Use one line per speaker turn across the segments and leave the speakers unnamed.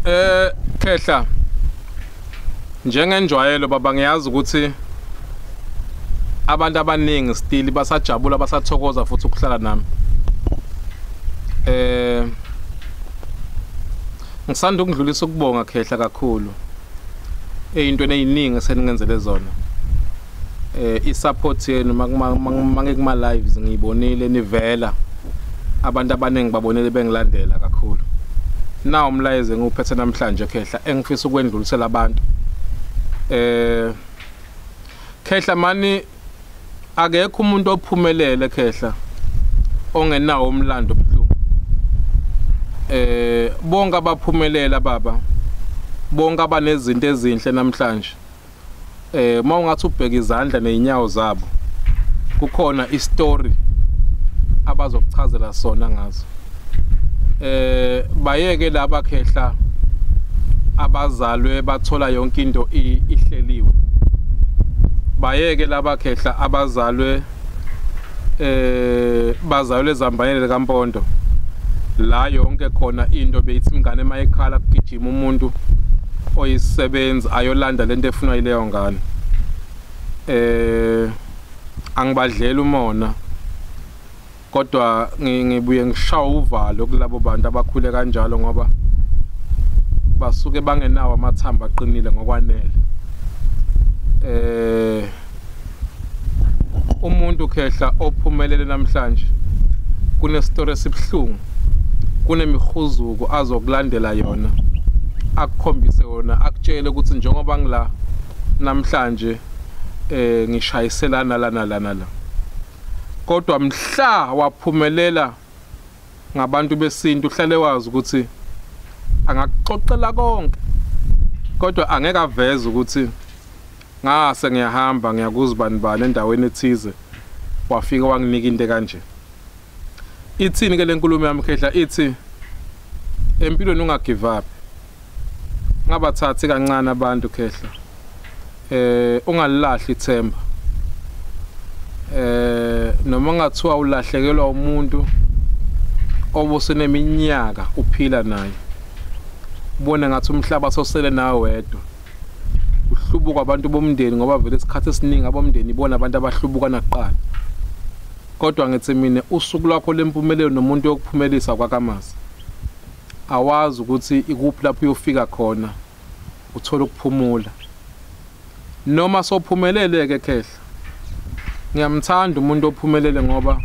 Eh Khehla njengenjwayelo baba ngiyazi ukuthi abantu abaningi still basajabula basathokoza futhi ukuhlala nami eh ngisanda ukudlulisa ukubonga khehla kakhulu eyintweni eyiningi seningenzele zona eh isupport yenu make kuma lives ngiyibonile nivela abantu abaningi babonele bengilandela kakhulu na umlayezo enguphethe namhlanje khehla engifisa ukwendlulisela abantu eh khehla mani akekho umuntu ophumelele khehla ongenawo umlando obuhlungu eh bonke abaphumelela baba bonke abanezinto ezinhle namhlanje eh uma ungathi ubheka izandla nezinyawo zabo kukhona istory abazokuchazela sona ngazo eh bayeke laba khehla abazalwe bathola yonke into ihleliwe bayeke laba khehla abazalwe eh bazayo lezambanele likampondo la yonke khona into beyithi ingane uma ekhala kugijima umuntu oyisebenzi ayolanda lento efunwa yileyo ngane eh angibadlela umona kodwa ngibuye ngishawa uvalo kulabo bantu abakhule kanjalo ngoba basuke bangenawo amathambo aqinile ngokwanele eh umuntu khehla ophumelele namhlanje kunestory esibuhlungu kunemihuzuko azokulandela yona akukhombise yona akutshele ukuthi njengoba ngila namhlanje eh ngishayiselana lana lana la kodwa mhla waphumelela ngabantu besintu uhlale wazi ukuthi angakuxoxela konke kodwa angeke aveze ukuthi ngase ngiyahamba ngiyakuzibani bani endaweni ethize wafika wanginika into kanje ithini ke lenkulumo yami khehla ithi empilweni ungagive up ngabathathi kancane abantu khehla eh ungalilahli ithemba eh noma ngathiwa ulahlekelwa umuntu obuseneminyaka uphila naye ubone ngathi umhlaba sosele nawe wedwa uhlubuka abantu bomndeni ngoba vele isikhathi esiningi abomndeni ibona abantu abahlubuka nakuqala kodwa ngithi mina usuku lwakho lempumelelo nomuntu yokuphumelisa kwakamazi awazi ukuthi ikuphi lapho uyofika khona uthola ukuphumula noma sophumelele ke khehla ngiyamthanda umuntu ophumelele ngoba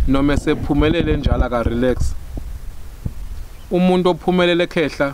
noma esephumelele njalo aka relax umuntu ophumelele khehla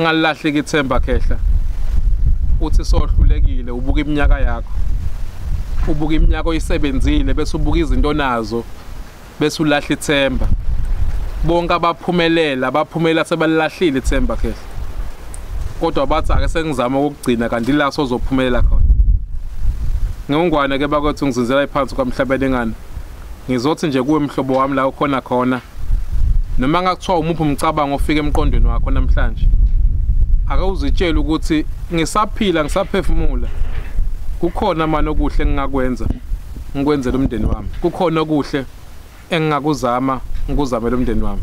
ngalahleki ithemba khehla uthi sohlulekile ubuka iminyaka yakho ubuka iminyaka oyisebenzile bese ubuka izinto onazo bese ulahla ithemba bonke abaphumelela baphumela sebalahlile ithemba khehla kodwa bathi ake sengizama ukugcina kanti la sozophumelela khona ngengwane ke bakwethu ngizinzela iphansi kwamhlabeni ngani Ngizothi nje kuwe mhlobo wami la ukhona khona noma ngakuthiwa umuphi umcabango ofika emqondweni wakho namhlanje ake uzitshele ukuthi ngisaphila ngisaphefumula kukhona manje okuhle engingakwenza ngikwenzela umndeni wami kukhona okuhle engingakuzama ngikuzamela umndeni wami